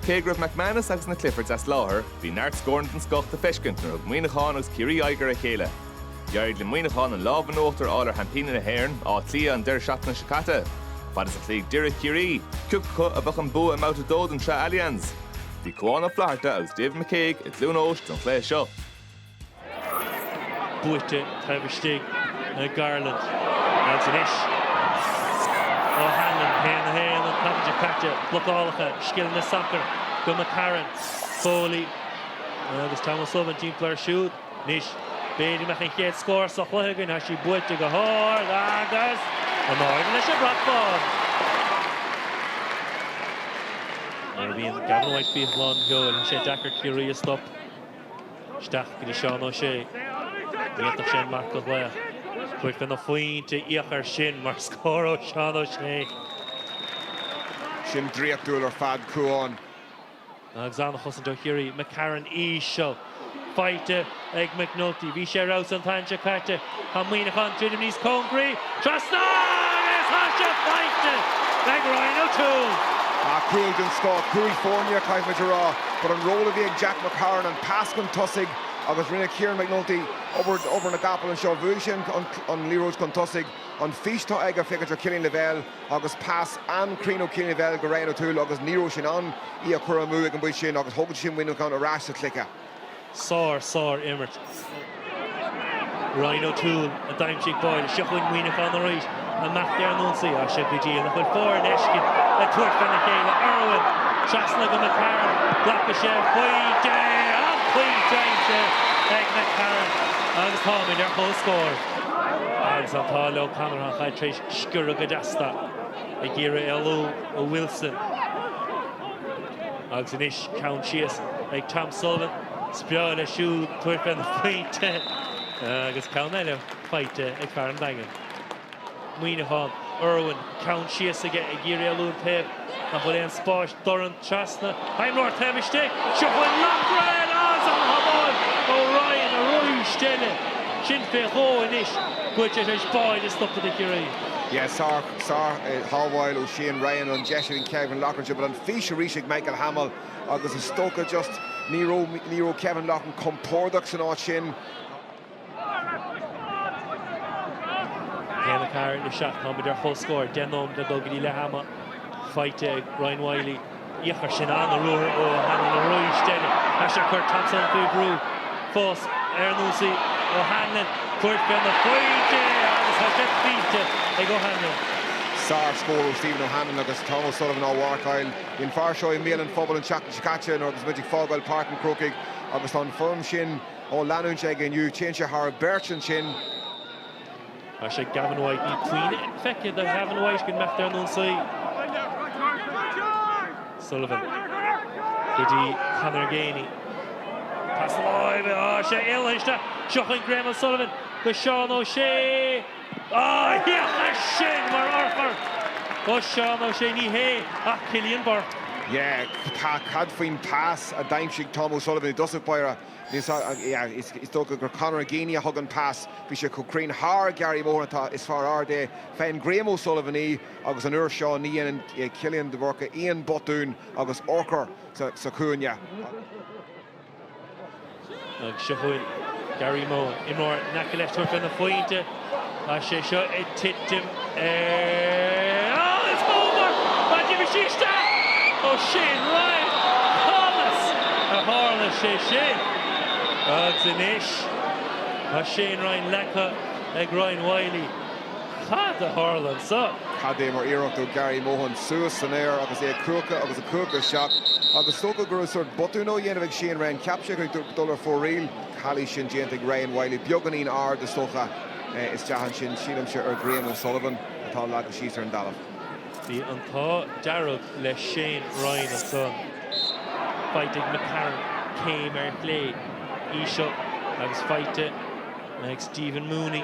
Cé go raibh McManus agus na Cliffords as láthair, bhí neart scóranna den scoth le feiscint nuair a thug Muineachán agus Ciarraí aghaidh ar a chéile. D'éirigh le Muineachán an lámh in uachtar a fháil ar sheaimpíní na hÉireann, Áth Cliath, an deireadh seachtaine seo caite. Fad is a chloígh Doire Ciarraí, cioca acu a bheadh an bua i mbabhta a dó den tSraith Allianz? Bhí Cuán Ó Flatharta agus David McCague i gCluain Eois don chluiche seo. buaite taobh istigh na Garland agus anois O'Hanlon 1 a 1 an tseachtain seo caite blocálacha scileanna sacair go McCarron, Foley agus Tom O'Sullivan timpeall air siúd anois b'fhéidir go mbeadh an chéad scór sa chluiche againn tá sí buaite go hard agus an marc leis an mbrat bán! Nuair a bhíonn Gavin White faoi lánseol tá sé deacair Ciarraí a stopadh. isteach go dtí Seán Ó Sé. D'fhéadfadh sé an marc a ghlaoch. Chuirfeadh sé na pointí ar fáil ansin mar scór ó Sheán Ó Sé. Sin draíochtúil ar fad, Cuán. Agus an-chosaint ó Chiarraí, McCarron anseo. Faighte ag McNulty. Bhí sé ar fheabhas an tseachtain seo caite. Tá Muineachán druidim níos cóngaraí trasna agus tá sé faighte ag Ryan O'Toole! Cúl den scoth, cúl foirne caithfidh muid a rá, but an ról a bhí ag Jack McCarron, an pas chun tosaigh agus rinne Ciaran McNulty obair na gcapall anseo, bhuaigh sé an liathróid chun tosaigh, an fís atá aige féachaint ar Killian Lavelle agus pas an-chruinn ó Killian Lavelle go Ryan O'Toole agus ní raibh sé in ann í a chur amú ag an bpointe sin agus thóg sé sin Muineachán ar ais sa chluiche. Sár, sár imirt. Ryan O'Toole a d'aimsigh. Boyle. Seo chugainn Muineachán arís. An mbeadh deireadh na n-ionsaí? Á, seo go dtí an bhfuil foireann éigin le tabhairt fé a chéile. Irwin! Trasna go McCarron. Glacadh sé pointe! An pointe aimsithe ag McCarron agus táimid ar chomhscór. Agus an t-ádh le O'Connor an chaid tar éis sciorradh go deas. Ag iarraidh éalú ó Wilson. Agus anois ceann síos ag Tom Sullivan, is breá leis siúd tabhairt faoin phointe agus ceann eile faighte ag fear an Daingin. Muineachán, Irwin, ceann síos aige ag iarraidh éalú an taobh nach bhfuil aon spás dorn trasna. Hamill, taobh istigh, seo chugainn Loughran arís an tsábháil ó Ryan arís eile. Sin fé dhó anois, cúl tar éis bheith stoptha do Chiarraí. Yes sir. Sár-shábháil ó Shane Ryan, an deis ag Kevin Loughran anseo but an fís arís ag Michael Hamill agus is dócha just ní raibh ní raibh Kevin Loughran compordach san áit sin. Ceann McCarron isteach táimid ar chomhscór, deich nóiméad le dul go dtí leath ama faighte ag Ryan Wylie. Féach air sin an-ruathar ó Hanlon arís eile. Tá sé ag cur Tom O'Sullivan faoi bhrú fós ar an ionsaí. O'Hanlon, tabhairt faoi na pointe agus tá sé aimsithe ag O'Hanlon. Sár-scór ó Stephen O'Hanlon agus Tom O'Sullivan á mharcáil. Bhí an fear seo i mbéal an phobail an tseachtain seo caite nuair agus muid ag fágáil Páirc an Chrócaigh agus tá an fhoirm sin á leanúint aige inniu. Téann sé thar beirt ansin. Tá sé ag Gavin White níl puinn feicthe de Ghavin White ag imeacht ar an ionsaí. Sullivan go dtí Conor Geaney. Pas láimhe tá sé seolta isteach seo chugainn Graham O'Sullivan go Seán Ó Sé. Á cad é sin mar urchar ó Sheán Ó Sé ní hé ach Cillian Burke. Yeah, tá cad faoin pas a d'aimsigh Tom O'Sullivan i dtosach báire. Is dócha gur Conor Geaney a thug an pas, bhí sé chomh cruinn thar Gary Mohan is fear ard é faigheann Graham O'Sullivan í agus an uair seo ní dhéanann Cillian de Búrca aon botún agus urchar sa chúinne. Ach seo chugainn Gary Mohan, imreoir in aice leis tabhairt faoi na pointe. Tá sé seo ag titim ó is dóbair má d'imigh sí isteach ó Shane Ryan. Conas a tharla sé sin? Agus anois tá Shane Ryan leagtha ag Ryan Wylie. Cad a tharla ansan? Cad é mar iarracht ó Gary Mohan? Suas san aer agus é ag cuachadh agus ag cuachadh isteach agus is dócha go raibh sórt botúin á dhéanamh ag Shane Ryan. Cheap sé go raibh ag dul ar fóraoil. calaois sin déanta ag Ryan Wylie. Beagáinín ard, is dócha, isteach ansin, sílimse, ar Graham O'Sullivan atá leagtha síos ar an dtalamh. Bhí an t-ádh dearg le Shane Ryan ansan. Faighte ag McCarron, céim ar chlé, íseal agus faighte ag Stephen Mooney.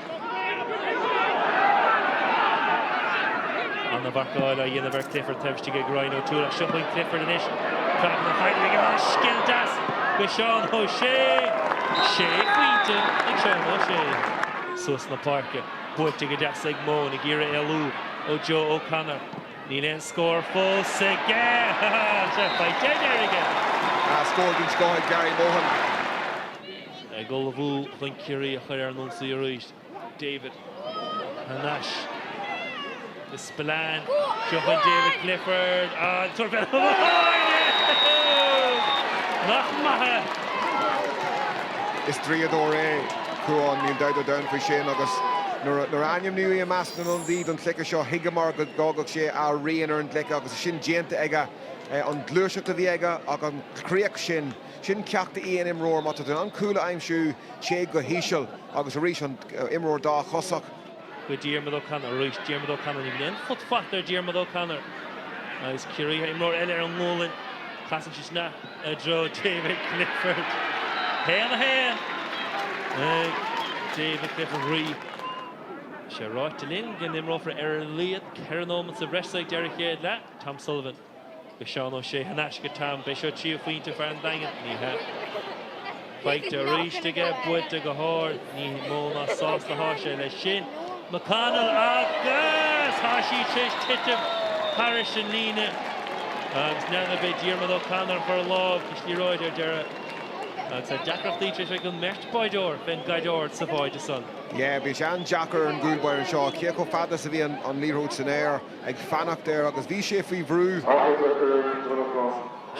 Ana mharcáil á dhéanamh ar Clifford, taobh istigh ag Ryan O'Toole ach seo chugainn Clifford anois. Craiceann an chaighdeáin aige mar is scil deas go Seán Ó Sé! Sé phointe ag Seán Ó Sé. Suas na páirce. Buailte go deas ag Mohan, ag iarraidh éalú ó Joe O'Connor. Níl aon scór fós aige! Sea, faighte anois aige! Scór den scoth ag Gary Mohan. Ag ullmhú chun Ciarraí a chur ar an ionsaí arís. David thar n-ais do Spillane. Seo chugainn David Clifford an tríú cúl amháin! Nach maith! Is draíodóir é a Chuáin, níl dabht ar domhan faoi sin agus nuair a ainmníodh é i measc na n-ionadaithe don chluiche seo, thuigeamar go bhfágfadh sé a rian ar an gcluiche agus sin déanta aige. An ghluaiseacht a bhí aige ach an chríoch sin. Sin ceacht d'aon imreoir má tá tú in ann cúl a aimsiú téigh go híseal agus arís an t-imreoir dá chosach. Go Diarmuid O'Connor arís Diarmuid O'Connor ag léim, put faighte ag Diarmuid O'Connor agus Ciarraí imreoir eile ar an ngualainn casann sé sin i dtreo David Clifford 1-1 ag David Clifford. Tá sé ráite linn go n-imreofar ar a laghad 4 nóimeat sa bhreis so ag deireadh chéad leath Tom Sullivan. go Seán Ó Sé, ar n-ais go, Tom, beidh seo trí phointe fear an Daingin, ní hea. Faighte arís aige, buailte go hard, ní mó ná sásta atá sé leis sin. McConnell agus tá sí tar éis titim thar ais an líne agus níorbh é Diarmuid O'Connor a chuir lámh sa liathróid ar deireadh agus tá deacrachtaí tar éis bheith ag an mbeirt báideoir fén gcaid ard sa bháide san. Yeah, bhí sé an-deacair ar an gcúl báire seo. Cé chomh fada is a bhí an liathróid san aer? ag fanacht air agus bhí sé faoi bhrú.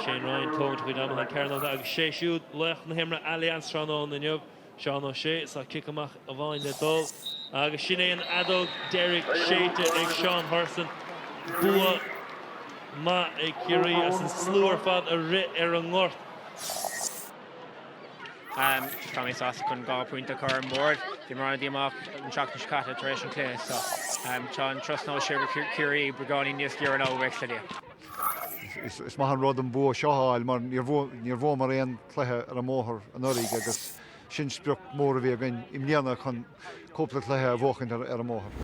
Shane Ryan, tá an chaid amach ón gcearnóg agus sé siúd laoch na himeartha Allianz tráthnóna inniu, Seán O'Shea, is tá cic amach amháin le dul agus sin é an fheadóg deiridh séidte ag Seán Hurson. Bua maith ag Ciarraí as an slua ar fad a rith ar an ngort. Tá mé sásta chun dhá phointe a chur ar an mbord. Bhí mé an-díomách an seachtain seo caite tar éis an cluiche so tá an turas anois siar go Ciarraí beagáinín níos giorra ná bheadh sé. Is maith an rud an bua seo a fháil mar níor bhuamar aon chluiche ar an mbóthar anuraidh agus sin sprioc mór a bhí againn i mbliana chun cúpla cluiche a bhuachaint ar an mbóthar.